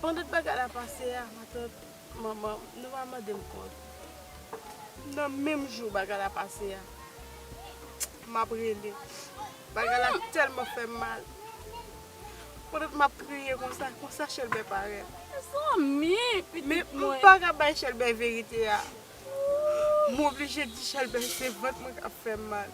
Pandan bagay la pase a matant manman nou pa mandem kont nan menm jou bagay la pase a map rele bagay la telman fèm mal pandan map kriye konsa konsa chèlbè parèt men mpaka bay chèlbè verite a moblije di chèlbè se vant mwen kap fèm mal.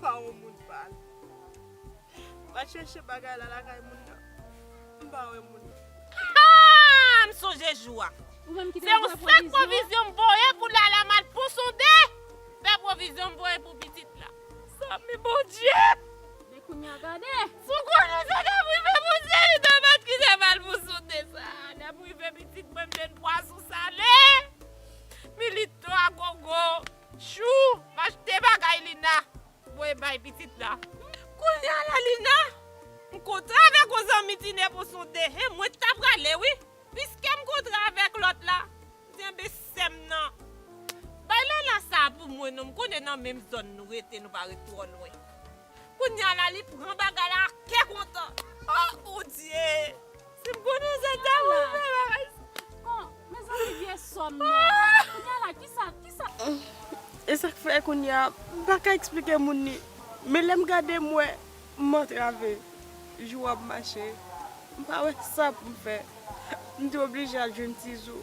pa yon moun pal. Mpa chèche bagay la lakay moun nan. Mpa wè moun nan. Haa m sonje jou a. Se yon sak pwovizyon m voye pou Lala mal pou sonde fè pwovizyon m voye pou pitit la. Zanmi Bondye! Men kounye a gade! Si w konnen sa k ap rive Bondye li dwe pat kite mal pou sonde sa a. Lè m rive pitit mwen m jwenn pwason sale. Milito agogo. Tjou achte bagay Lina voye bay pitit la. Kounya la Lina m kontre avèk on zanmi Tine pou sonde hein mwen ta prale wi piskem kontre avèk lòt la m di enben sèm nan bay Lala sa pou mwen non m konnen nan menm zòn nou rete nou pa ret twò lwen. Kounya la li pran bagay la ak kè kontan oh bondye sim konnen se te ou m fè bagay sa. Mezanmi vye sòm nan kounya la kisa kisa. Esak fè kounya m paka esplike moun ni men lèm gade m wè m antrave jou ap mache m pa wè sa poum fè m t oblije al jwenn tizou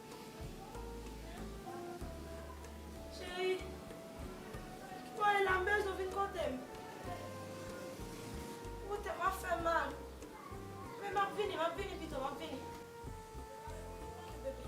Cheri, mwen la mbez ou vin kote m. Wote m ap fè m mal. Men m ap vini, m ap vini pito, m ap vini. Ok bebe.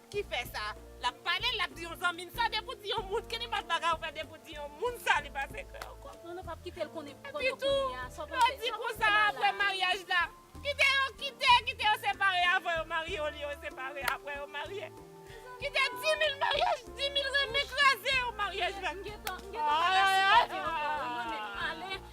ki fè sa lap pale lap di yon zanmil sa depi ou di yon moun ki nenpòt bagay ou fè depi ou di yon moun sa li pase krè ou kòm Non nou pap kitel konnen epitou lè ou di konsa aprè maryaj la kite yo kite kite yo separe avan yo marye olye yo separe aprè yo marye kite dimil maryaj dimil renmen kraze yon maryaj la ayayayy.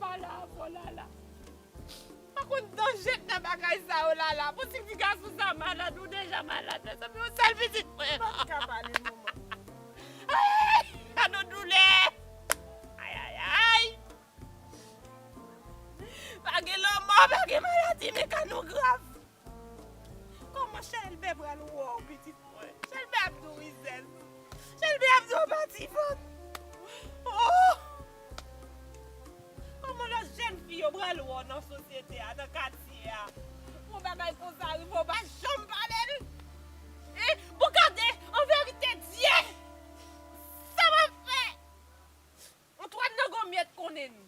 Pa la ankò lala. M pa konn danje k nan bagay sa yo lala. Pou ti fi gason sa malad ou deja malad mezanmi yon sèl pitit mwen. M pap ka pale non man. Ayy gadon doulè ayayayy. Pa gen lanmò pa gen maladi men ka nou grav. Kòman Chèlbè pral wè w pitit mwen? Chèlbè ap di w rizèz. Chèlbè ap di w pa ti vant. Ohh! Kòman lòt jèn fi yo pral wè w nan sosyete a, nan katye a? Yon bagay konsa rive w pa janm pale l? Hein? Bon gade, an verite dye! Sa m ap fè? Antwàn nan gòmyè t konnen.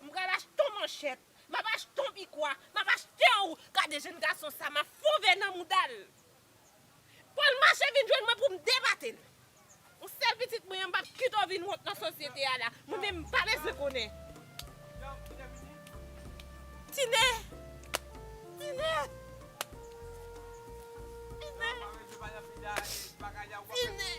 M pral achte yon manchèt. Map achte yon pikwa map achtew gade jèn gason sa map fon vè nan moudal Paul mache vin jwenn mwen poum debatel yon sèl pitit mwen an mpap kitew vin wont nan sosyete a la mwen menm mpa bezwen konnen Tine Tine Tine Tine.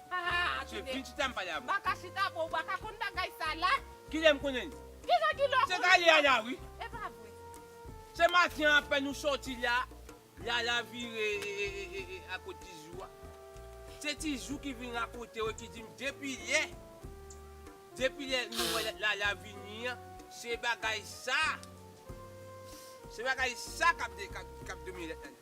Haa se vin chita m pale avw. Baka chita boo baka konn bagay sa la. Kilè m konnen li. Kijan kilè w konnen Se kay lala wi. Epa vre. Se maten an apèn ou soti la lala vire a kot tizou a se tizou ki vin rakonte w ki di m depi lè depi lè nou wè lala vini an se bagay sa se bagay sa kap domi lala.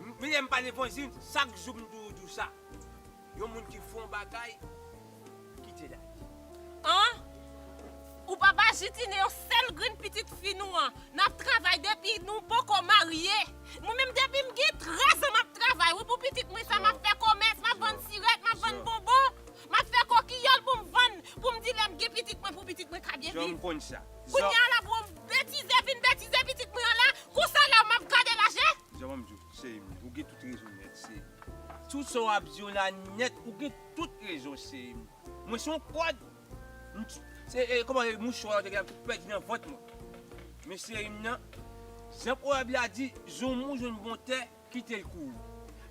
M bliye m pa repons di n chak jou m toujou di w sa yon moun ki fon bagay kite la li. An! Ou pa bajitine yon sèl grenn pitit fi nou an. N ap travay depi nou poko marye. Mwen menm depi m gen 13 an m ap travay wi pou pitit mwen sa. M ap fè komès, m ap vann sirèt, m ap vann bonbon. Map fè kokiyòl pou m vann pou m di lè m gen pitit mwen pou pitit mwen ka byen viv. Kounye a la pou m betize vin betize pitit mwen an la konsa la map gade l a je. Zò banm di w cheri m ou gen tout rezon nèt cheri m. Tout sa w ap di w la nèt ou gen tout rezon cheri m mwen se yon kòd m t se kòman e mouchwa yo te gen m t pèdi nan vant mwen men cheri m nan jan pwovèb la di zoumou jwenn bon tè kite l kouri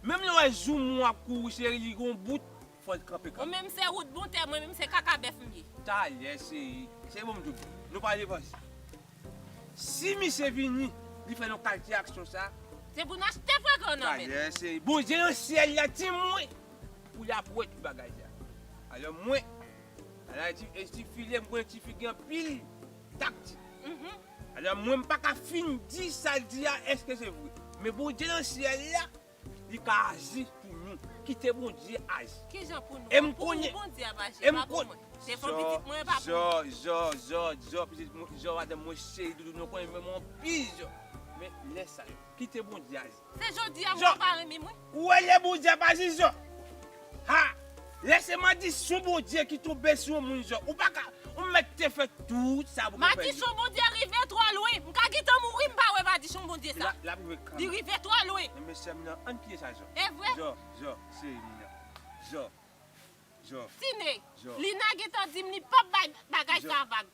menm lè w wè zoumou ap kouri cheri li gen yon bout Fòl t kanpe kanpe. Ou menm se rout bon tè mwen menm se kaka bèf m ye. Talè seri seri bon m di w nou pa devanse si misye vini li fè yon kalte aksyon sa. Se pou n achte frekan w nan men l. Talè seri Bondye nan syèl la di mwen pou li ap wè tout bagay sa alò mwen al ayiti e ti fi li m konnen ti fi gen anpil taktik alò mwen m paka fin di sa l di a èske se vre men Bondye nan syèl la. Li ka aji pou nou. Kite Bondye aji. Kijan pou nou? E'm konnen. Pou ou Bondye ap aji. E'm konnen. Epa pou mwen. Se pou pitit mwen epa pou mwen. Jò, jò, jò, jò, jò madanm mwen cheri doudou nou konnen menm anpil jò. Men lè sa yo. Kite Bondye aji. Se jodi a ou pa renmenm wi. Ou wè lè Bondye ap aji jò. Ha! Lè se madisyon Bondye ki tonbe sou yon moun zè, ou pa ka, ou mèt te fè tout sa pou gen pè di. Madisyon Bondye rive twò lwen. M ka gentan mouri m pa wè madisyon Bondye sa. L ap rive kanmenm. Li rive twò lwen. Nan men sè m nan, ann priye sa Jò. E vre? Jò, Jò, se li nan. Jò, Jò. Tine, Lina gentan di m li p ap bay bagay sa vag.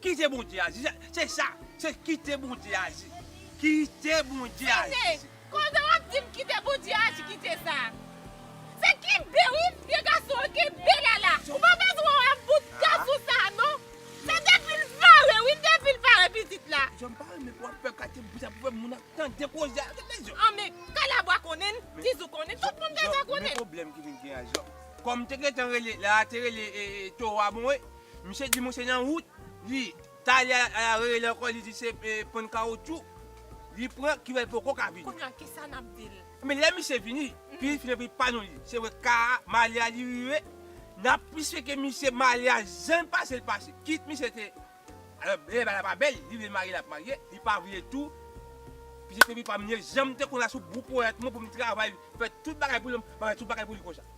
Kite bondye aji se sa se kite bondye aji kite bondye aji se. Koze wap dim kite bondye aji kite sa se kenbe wi vye gason an kenbe la la ou pa bezwen wè bout gason sa non se depil pare wi depil pare pitit la. Zòm m pa renmen pou wap fè katye bri sa pou fè moun ap tande koze a gade lèzòm. An men kalabwa konnenl tizou konnenl tout moun deja konnenl. Men pwoblèm ki vin gen an zòm kòm te gentan rele la te rele towa bon e. Misye di moun se nan wout li tale ala rele ankò li di se ponn kawoutchou li pran ki fèl poko ka vini. Kounya kisa nap dil. Men lè misye vini pil finn anvi pa nou li se wè ka malya li rive nap plis feke misye malya janl pasel pase kit misye te alò lè bagay la pa bèl li vle marye lap marye li pa vle tou pitit epi pam li janm te konn la sou gwo poyèt mwen poum travay fè tout bagay pou li map fè tout bagay pou li konsa.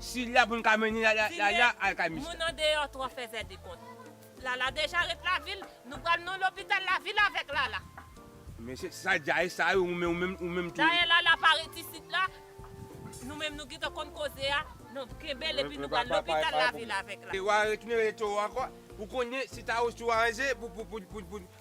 Sid la poun ka mennen lala al kay mista. Moun andeyò twò fèzè de kont. Lala deja ret lavil nou pral non lopital lavil avèk lala. Men se sa djaye sa yo ou menm tou. Dayè lala pa ret isit la nou menm nou gentan konn koze a non kenbel epi nou pral lopital lavil avèk la. Wa retounen rele towo ankò pou konnen si tawo sou anze pou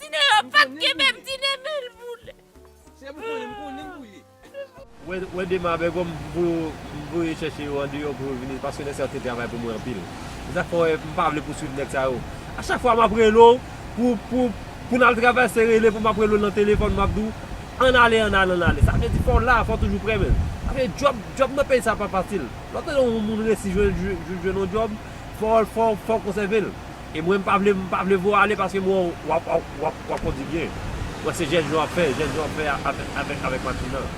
Tine yo pap kenbe m tine men l boule. Sè m konnen m konnen m boule. Wè dema bègò m voye chèche yo andeyò pou yo vini paske nèg sa yo te travay pou mwen anpil se sak fè m pa vle pouswiv nèg sa yo a chak fwa map rele w pou n al travay se rele pou map rele w nan telefòn map di w ann ale ann ale ann ale sa vle di fò w la fò w toujou pre men sa vle di djòb nan peyi sa pa fasil lè w tande yon moun resi jwenn yon djòb fò w konsève l. E mwen m pa vle m pa vle vo ale paske m wè w wap wap wap kondi byen. Wè se jès yo wap fè, jès yo wap fè avèk avèk avèk machin nan.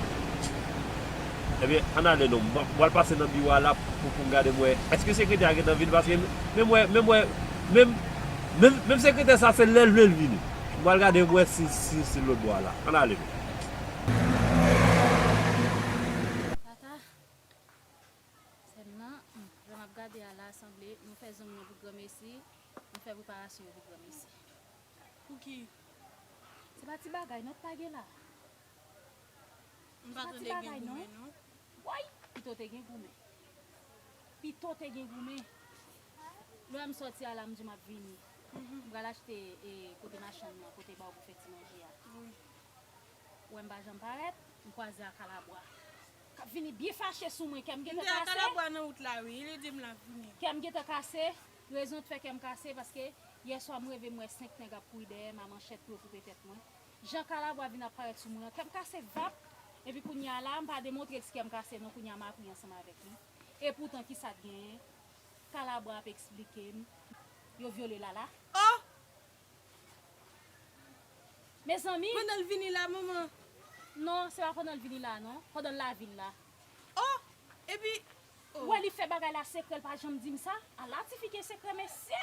Ebyen ann ale non. M pral pase nan biwo a la pou pou m gade m wè èske sekretè a gentan vini paske menm wè menm wè menm menm menm sekretè sa se lè l vle l vini. M pral gade m wè si si si l lòt bò a la. Ann ale non. Papa. Sèm nan, jan map gade a la sanble nou fè zong nan pou granmesi, nou fè preparasyon pou granmesi. Pouki? Se pa ti bagay non k'ta gen la. M pa tande gen goumen non. Woy! Pito te gen goumen. Pito te gen goumen. Lè m sòti a la m di map vini. M pral achte e kote machann nan, kote baw pou fè ti manje a. Wè m pa janm parèt, m kwaze a kalabwa. Kap vini byen fache sou mwen kèm gentan kase. Mte atalè bwa nan wout la wi li dim lap vini. Kèm gentan kase, rezon t fè kèm kase paske yè swa m reve m wè 5 nèg ap kouri dèyèm a manchèt pou yo koupe tèt mwen. Jan kalabwa vin ap parèt sou mwen an kèm kase vap epi kounya la mpa demontrel si kèm kase non kounya map ri ansanm avèk li epoutan kisa t genyen kalabwa ap esplikem yo vyole lala. Oh! Mezanmi! Pandan l vini la, manman? Non, se pa pandan l vini la non. Pandan l lavil la. O! Epi, o! Ou wè li fè bagay la sekrè, l pa janm di m sa. Ala tifi gen sekrè mesye!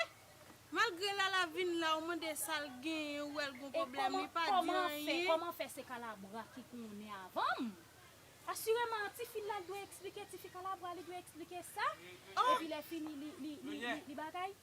Malgre Lala vin la, ou mande sa l genyen, ou wè l gon pwoblèm, li pa di anyen. E kòman fè se Kalabra ki konnen avan m? Asireman, tifi la l dwe eksplike, tifi Kalabra li dwe eksplike sa. O! Epi lè fini li bagay.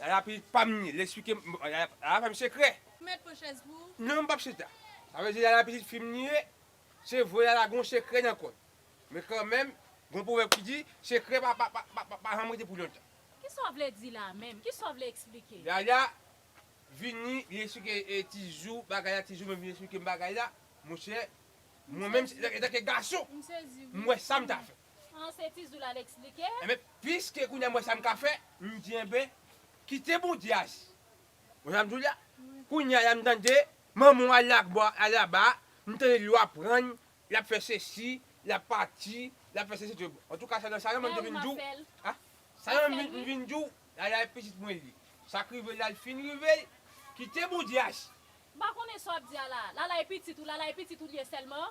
Yaya pi pa m li esplike m bon yaya yaya fè m sekrè. Ou mèt pran chèz pou ou. Non m pap chita. Sa vle di yaya pitit fi m li ye se vre yaya gon sekrè nan kò l men kanmenm gon pwovèb ki di sekrè pa pa pa pa janm rete pou lontan. Kisa w vle di la menm? Kisa w vle esplike? Yaya vini li esplike tizou bagay la tizou menm vini esplike m bagay la monchè mwen menm etanke gason m wè sa m ta fè. Franse Tizoul al eksplike. Enben, piske kounye a m wè sa m ka fè, m di enben, kite Bondye aji. Ou konn sa m di w la? Kounye a la m tande manman w al lagba, al laba, m tande li yo aprann, l ap fè sesi, l ap pati, l ap fè sesi tout. Antouka sa nan sa yo menm m te vin di w. A? Sa yo menm m vin di w, ala e pitit mwen li. Sa k rive l la l fin rive l, kite Bondye aji. M pa konnen sa w ap di a la. Lala e pitit ou, lala e pitit ou li ye sèlman?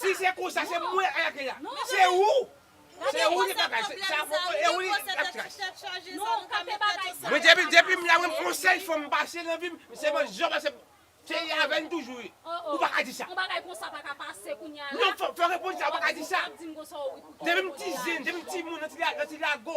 Si se konsa se mwen a la kay la se ou se ou li bagay se sa fòk e ou li lap tras mwen depi depim la mwen on sèl fanm m pase nan vim se mwen zò pase se li avèm toujou wi ou paka di sa non fò repons sa ou paka di sa depim ti zen depim ti moun nan ti lago.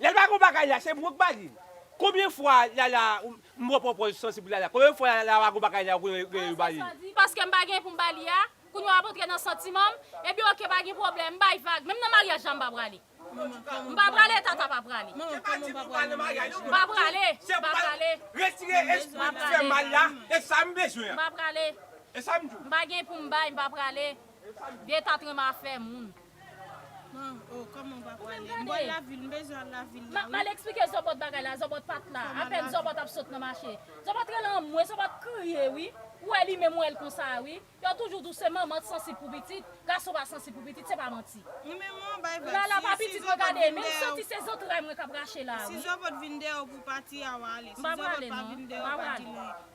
Lel pa kon bagay la se mwenk ba li. Konbyen fwa lala m pran pwopòz sansi pou lala konbyen fwa lala pa kon bagay la ou gen yo ba li. Paskem pa gen poum ba li a Kounya wap antre nan santimanm Ebyen ok pa gen pwoblèm m bay vag menm nan maryaj la m pa prale M pa prale tata pa prale Se pa di pou pral nan maryaj non M pa prale M pa prale Retire espri ki fè mal la e sa m bezwen an M pa prale E sa m di w M pa gen poum bay m pa prale Vye ta trenm afè moun. Bon oh koman ou pa pale. M bal lavil m bezwen al lavil la wi. Map mal eksplike zòbòt bagay la zòbòt pat la apèn zòbòt ap sot nan mache zòbòt rele anmwe zòbòt kriye wi ou wè li menm ou wèl konsa a wi yo toujou di w se manman k sansib pou pitit gason pa sansib pou pitit se pa manti lala pa pitit mwen gade menm santi se zantray mwen kap rache la a wi m pa prale non m pa prale.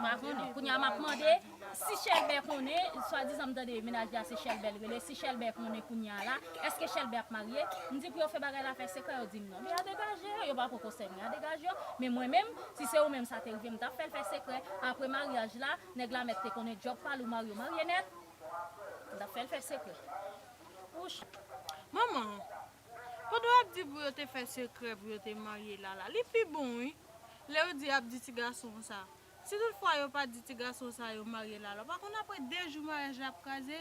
Mwen pa konnen. Kounye a m ap mande si Chèlbè konnen, swadizan m tande mennaj li a se Chèlbè l rele, si Chèlbè konnen kounye a la, èske Chèlbè ap marye? M di pou yo fè bagay la fè sekrè, yo di m non. Men a degaje yo, yo pa poko sèvi men a degaje yo. Men mwen menm, si se ou menm sa te rive, m t ap fè l fè sekrè. Apre maryaj la, nèg la mèt te konnen djòb pa l, ou marye ou marye nèt. M t ap fè l fè sekrè. Wouch! Manman! Pandan wap di pou yo te fè sekrè pou yo te marye lala li pi bon wi lè yo di yap di ti gason an sa si tout fwa yo pa di ti gason sa yo marye lala ou pa konn aprè 2 jou maryaj la ap kraze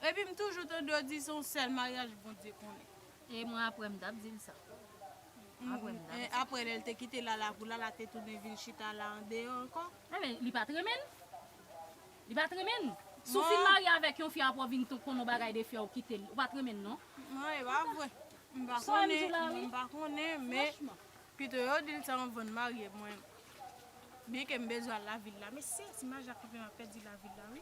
epi m toujou tande yo di se yon sèl maryaj Bondye konnen. E mwen aprè m tap dil sa aprè m tap dil sa. Aprè lèl te kite lala pou lala te tounen vin chita la andeyò ankò. Ebyen li pat renmenl. Li pat renmenn? Si w fin marye avèk yon fi aprè w vin t konnen yon bagay de fi a ou kite l, ou pat renmenn non. Non e pa vre. M pa konnen non m pa konnen men pito yo di l sa anvan n marye mwen byen ke m bezwen al lavil la men se ti maja ki fè map pèdi lavil la wi.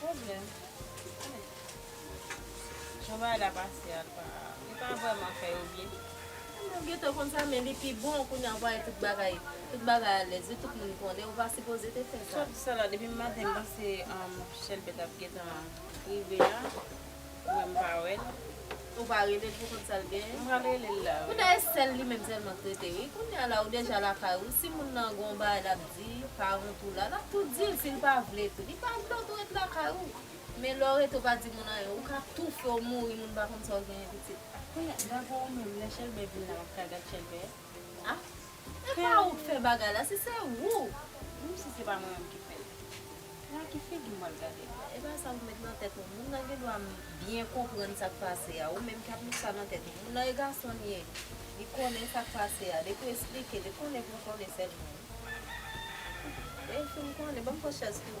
Problem. Yon bagay la pase a pa. Li pa vreman fè yo byen. Mwen gentan konn sa men li pi bon kounya ou wè tout bagay tout bagay alèz wi tout moun konnen ou pa sipoze te fè sa. Sot sa la depi maten m panse chèlbè tap gentan rive a. Ou wè m pa wè l. Ou pa rele l pou kont sa l genyen. M pral rele l la wi. Kounye a e sèl li menm sèlman k rete wi. Kounye a la ou deja lakay ou si moun nan gon bagay l ap di parent ou la l ap tou di l si l pa vle tou. Li pa vle w tou ret lakay ou. Men lè w rete ou pa di moun anyen ou ka toufe w mouri moun pa konn sa w genyen pitit. Kounye a gade ou menm lè Chèlbè vin la w ap ka gad Chèlbè a? E pa ou k fè bagay la si se ou. Menm si se pa mwen menm ki fè l. La ki figi mwen ap gade la. Epa sa ou met nan tèt ou moun nan gen dwa byen konprann sak pase a ou menm ki ap met sa nan tèt ou moun nan e gason li ye li konnen sak pase a depi ou esplike depi ou konnen pou ou konnen sèlman wi lè fin konnen banm fòchès tou.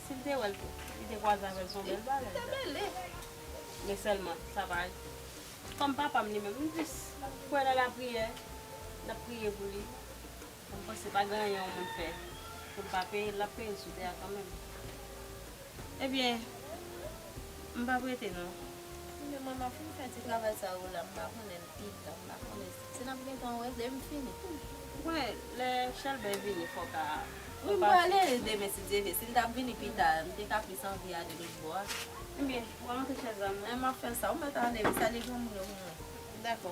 Si l te wè l, li te kwaze avè l s on bèl bagay. Li te mele. Men sèlman, sa pa. Kòm papa m li menm, m plis kwè nan lapriyè. N ap priye pou li. M panse pa gen anyen yon moun fè pou l pa peye l. L ap peye l sou tè a kanmenm. Ebyen, m p ap rete non. Li menm, mwen m ap fin fè ti travay sa yo la, m va konnen l pi ta. M va konnen sa. Se nap gentan wè lèm fini. Mwen lè chèlbè vini fòka a. Wi m prale demen si Dye vle si m tap vini pita m te ka plis anvi ale lòt bò a. Ebyen pran monte chèz la mwen. Map fè sa ou mèt ale wi salye granmoun yo pou mwen. Dakò.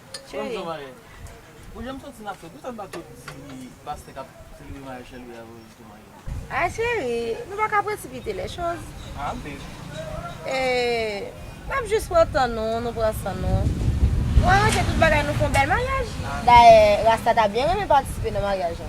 Cheri. Ah cheri, nou pa ka presipite les choses. N ap jis pran tan nou, nou pran san nou. Nou aranje tout bagay nou fè yon bèl maryaj. Dayè, Rasta ta byen renmen patisipe nan maryaj la.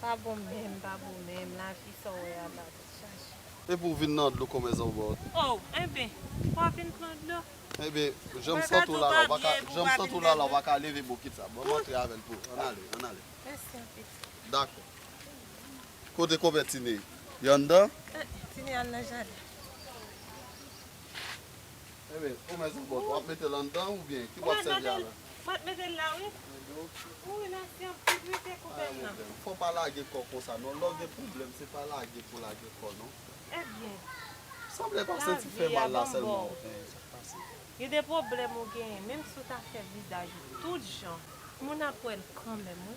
Pa bon menm pa bon menm lavi sa w wè a la tèt chaje. Epi w vin nan dlo kòmè zòbòt. Oh enben ou pa vin pran dlo. Enben jan m santi w la la w paka jan m santi w la la w paka leve bokit sa bon m antre avè l pou ann ale ann ale. Mèsi anpil. Dakò kote kòmè Tine? Li anndan? Tine al nan jaden. Enben, ou men zòbòt, w ap mete l anndan oubyen ki bò w ap sèvi a la? Mwen mete l la wi. Wi nan gen ti brike kou bèn nan. Fò w pa lage kò w konsa non, lè w gen pwoblèm se pa lage pou w lage kò w non. Ebyen. Sanble pa senti fè mal la sèlman w genyen, sa k pase? Gen de pwoblèm ou genyen, menm si w ta fè vidaj ou tout jan, moun ap wè l kanmenm wi.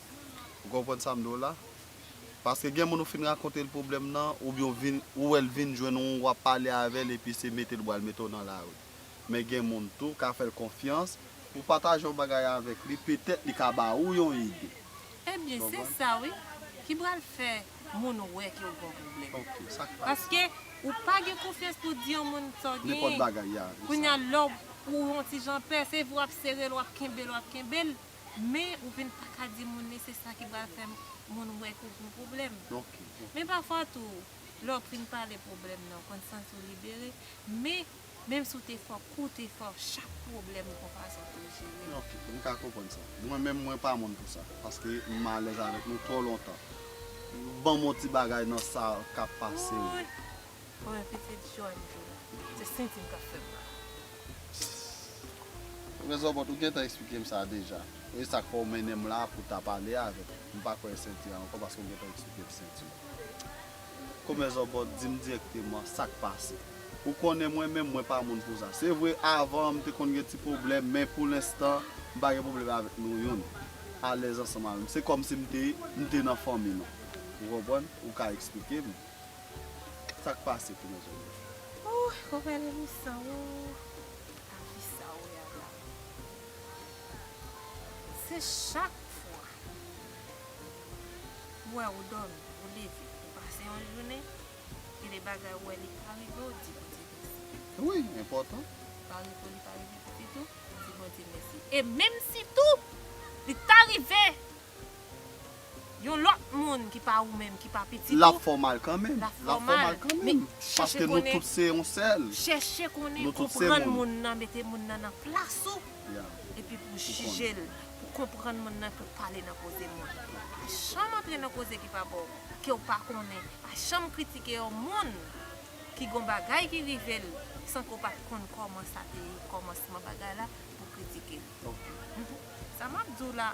Ou konprann sa m di w la? Paske gen moun ou fin rakonte l pwoblèm nan, oubyen ou vin, ou wè l vin jwenn ou, w ap pale avè l epi se mete l bra l mete w nan lari. Men gen moun tou, ka fè l konfyans, ou pataje yon bagay avèk li, petèt li ka ba ou yon ide. Ebyen, se sa wi, ki pral fè moun wè ke w gen yon pwoblèm. Ok, sa k pral. Paske ou pa gen konfyans pou w di yon moun sa w gen. Nenpòt bagay, ya, se sa. Kounya lè w, ou yon ti jan pè, se vre w ap sere l, w ap kenbe l, w ap kenbe l, Men ou vin pa ka di moun li se sa ki pral fè moun wè ke ou gen pwoblèm. Men pafwa tou, lè w fin pale pwoblèm nan, ou konn santi w libere. Men, menm si w te fò, kou w te fò, chak pwoblèm gen yon fason pou l jere. Ok, m ka konprann sa. Mwen menm, mwen pa moun pou sa. Paske m alèz avèk nou twò lontan. Ban m yon ti bagay nan sa k ap pase yo. Pou yon pitit jòn jou la. Se sentim kap fèm mal. Frè Zòbòt ou gentan eksplikem sa deja. Ou e sak fè ou mennenm la pou ta pale avèm. M pa kwè senti a ankò paske ou gentan eksplikem senti a. Komè Zòbòt dim dirèkteman sak pase. Ou konnen mwen menm mwen pa moun pou sa. Se vre avan m te konn gen ti pwoblèm men pou lenstan m pa gen pwoblèm avèk nou youn. Alèz ansanm avèm. Se kòmsi m te m te nan fanmi nou. Ou konprann? Ou ka eksplikem. Sak pase tou mezanmi. Ooh komele m san ooh. A kisa ou wè a la. Se chak fwa m wè ou domi ou leve ou pase yon jounen gen de bagay ou wè li pa rive ou di bondye mèsi. Wi enpòtan. Pa rive ou li pa rive pitit ou ou di bondye mèsi e menm si tou li ta rive Yon lòt moun ki pa ou menm, ki pa pitit ou. Lap fè w mal kanmenm. Lap fè w mal kanmenm. Paske nou tout se yon sèl. Chèche konnen, konprann moun nan, mete moun nan nan plas ou. Epi pou jije l, pou konprann moun nan, pou pale nan koze moun. Pa janm antre nan koze ki pa ba w, ke w pa konnen. Pa janm kritike yon moun ki gon bagay ki rive l, san ke w pa t konn kòman sa te ye, kòmansman bagay la, pou w kritike l. Sa map di w la.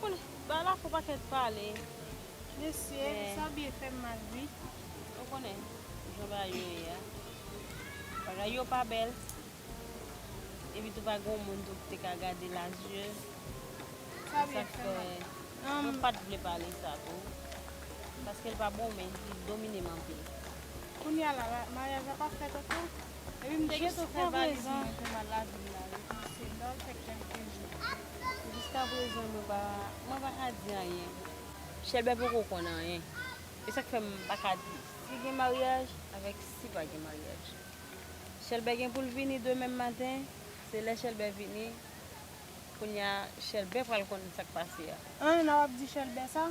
Konn balafon ou paket pale. Mesye sa byen fem mal ui. Ou konnen jan bagay yo ye a. Bagay yo pa bel. Epi tou pa gon moun tou ki te ka gade la zye. Sa byen fem mal. Mwen pat vle pale sa tou. Paske li pa bon men li dominem anpil. Kounya la maryaj la pa fet anko? Epi m te gento fè valiz mwen pou m al lavil la wi paske m ta pral fè kelke jou. Jiskaprezan mwen pa mwen pa ka di anyen. Chèlbè poko konn anyen. E sa k fè m pa ka di si gen maryaj avèk si pa gen maryaj. Chèlbè gen pou l vini demen maten, se lè Chèlbè vini kounye a Chèlbè pral konn sa k pase a. An, nan w ap di Chèlbè sa?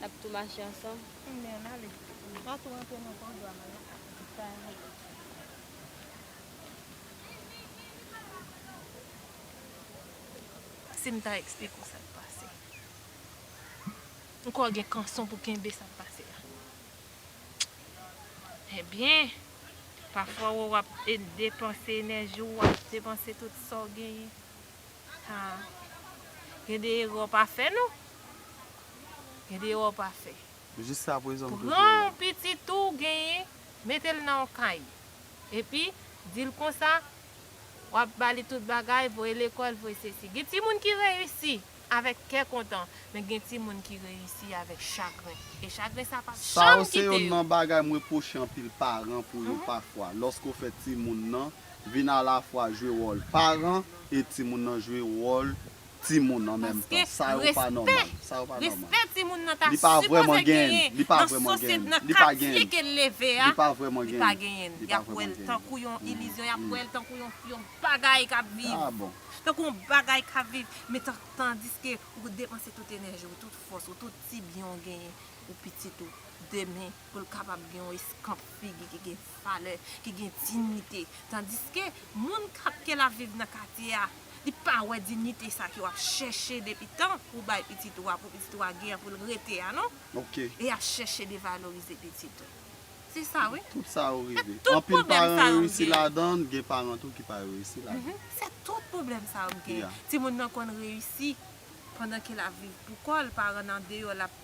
Nap tou mache ansanm. Eme an ale. Mpa tou rantre non paw dwa mal non. Sa yon bagay. Sim ta explike w sak pase. Ou kwè w gen kanson pou kenbe sak pase a. Ebyen. Pafwa wè wap depanse enèji w wap depanse tout sa w genyen. Ha Gen de erè w pa fè non Gen de erè w pa fè Pran yon pitit ou genyen mete l nan yon kay epi di l konsa w ap ba li tout bagay voye lekòl voye sesi Gen timoun ki reyisi avèk kè kontan men gen timoun ki reyisi avèk chagren e chagren sa p ap janm kite yo. vin alafwa jwe wòl paran e timoun nan jwe wòl timoun an menm tan. Sa yo pa nòmal. Sa yo pa nòmal. Paske respè timoun nan ta sipoze genyen nan sosyete, nan katye ke l leve a, li pa vrèman genyen. Li pa genyen. Y ap wè l tankou yon ilizyon, y ap wè l tankou yon bagay k ap viv. A bon. Tankou yon bagay k ap viv. Men tandiske ou gen depanse tout enèji ou, tout fòs ou, tout ti byen ou genyen pou pitit ou demen pou l kapab gen yon eskanp figi ki gen. valè, ki gen dignite. Tandiske, moun kap ke lap viv nan katye a, li pa wè dignite sa ke wap chèche depi tan pou bay pitit ou a, pou pitit ou a gen pou l rete a non. E yap chèche devalorize pitit ou. Se sa wi. Tout sa yo rive. Anpil paran reyisi ladan, gen paran tou ki pa reyisi ladan. Se tout pwoblèm sa yo gen. Timoun nan konn reyisi, pandan ke lap viv pou kò l, paran nan deyò lap.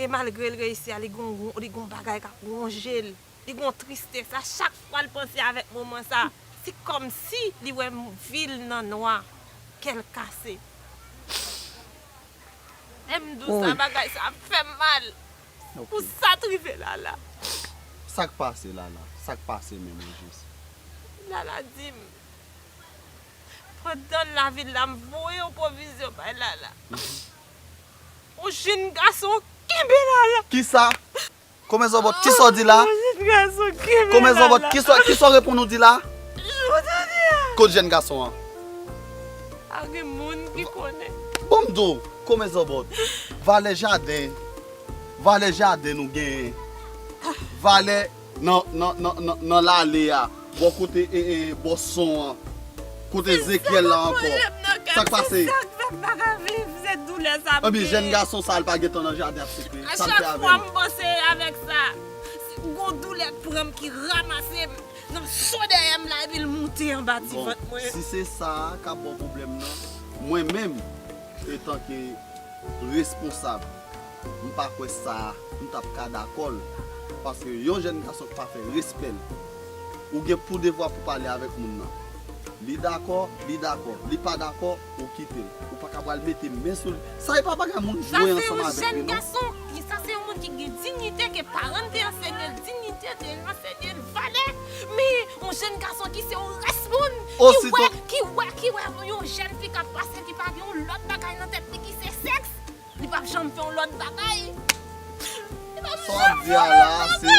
E malgre l reyisi a, li gon bagay k ap wonje l. Li gon tristès. A chak fwa l panse avèk moman sa, se kòmsi li wè vi l nan nwa. Kè l kase. M di w sa, bagay sa ap fè m mal. Pou sa t rive Lala. Sa k pase Lala? Sa k pase menm ojis? Lala di m, Pandan lavi l la, m voye yon pwovizyon bay Lala. Ou jinn gason kenbe la la. Kisa? Komè zòbòt kisa w di la? Ou jinn gason kenbe la la. Komè zòbòt kisa w reponn ou di la? Ou ta di a? Kot jèn gason an? Pa gen moun ki konnen. Bon m di w komè zòbòt valè jaden valè jaden nou genyen valè. Nan, nan, nan, nan, nan lale a, bò kote e, e, bò son an. Kote Ezekyèl la ankò. Kris ta konn voye m nan kay ti gag fè m pa ka viv, se doulè sa m gen. Ebyen jèn gason sa a l pa gentan nan jaden ap siple. A chak fwa m panse avèk sa, gon doulè k pran m ki ramase m nan cho dèyè m la epi l moute anba ti vant mwen. Bon, si se sa a k ap ba w pwoblèm nan, mwen menm etanke responsab. M pa kwè sa m tap ka dakòl paske yon jèn gason k pa fè respèl ou gen pou devwa pou pale avèk moun nan li dakò li dakò li pa dakò ou kitel ou paka pral mete men sou li sa epa bagay moun jwe ansanm avèk li non. Sa se yon jèn gason, sa se yon moun ki gen dignite ke paranl te ansenyel dignite te ansenyel valè men yon jèn gason ki se yon rès moun ki wè ki wè ki wè yon jèn fi kap pase ki pa gen yon lòt bagay nan tèt li ki se sèks. Li pap janm fè yon lòt bagay. Li pap janm fè yon lòt bagay. Sa w ap di a la a se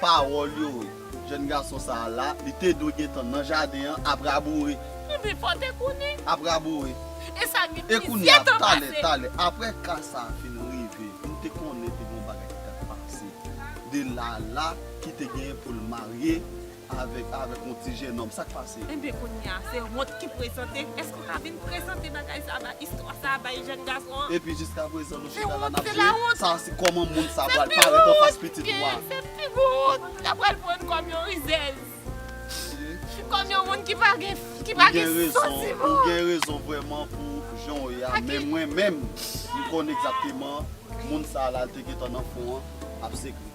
pawòl yo wi. Jèn gason sa a la, li te dwe gen tan nan jaden an ap raboure. Li vin fò te kounye. Ap raboure. E sa gen plizyè tan pase. E kounye a, talè, talè. Apre ka sa a fin rive, m te konnen te gen yon bagay ki t ap pase. De Lala ki te gen pou l marye. Avèk avèk yon ti jenòm, sa k pase? Enben kounye a, se wont ki prezante. Èske ou ka vin prezante bagay sa a bay, istwa sa a bay jèn gason an? Epi jiskaprezan nou chita la n ap jwe sa a si kòman moun sa a pral parèt anfas pitit ou a. Se pi gwo wont m ta pral pran kòm yon rizèz, kòm yon moun ki pa gen santiman. Ou gen rezon vrèman pou jan w ye a, men mwen menm, m konnen egzakteman moun sa a la te gentan nan fon an ap sekre.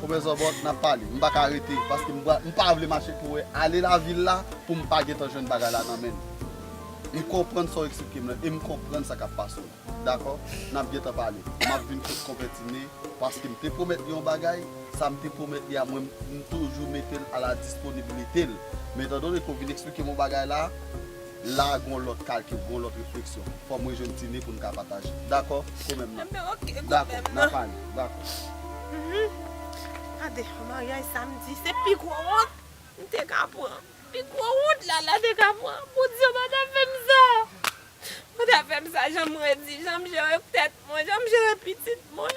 Komè zòbòt nap pale. M paka rete paske m pa vle mache pou wè ale lavil la pou m pa gentan jwenn bagay la nan menm. M konprann sa w eksplike m lan e m konprann sa kap pase w la. Dakò? Nap gentan pale. Map vin kot Konpè Tine paske m te pwomèt li yon bagay, sa m te pwomèt li a mwen m toujou mete l a la disponibilite l. Men etan done ke w vin eksplike m yon bagay la, La a gon lòt kalkil, gon lòt refleksyon. Fò m rejwenn Tine pou n ka pataje. Dakò? Ko menm nan. Anben ok, ko Dakò, menm n nan. ap ale. Dakò. Hum. Gade, maryaj samdi se pi gwo wont m te ka pran. Pi gwo wont Lala te ka pran. Bondye w pa ta fè m sa! Pa ta fè m sa jan m redi, jan m jere tèt mwen, jan m jere pitit mwen.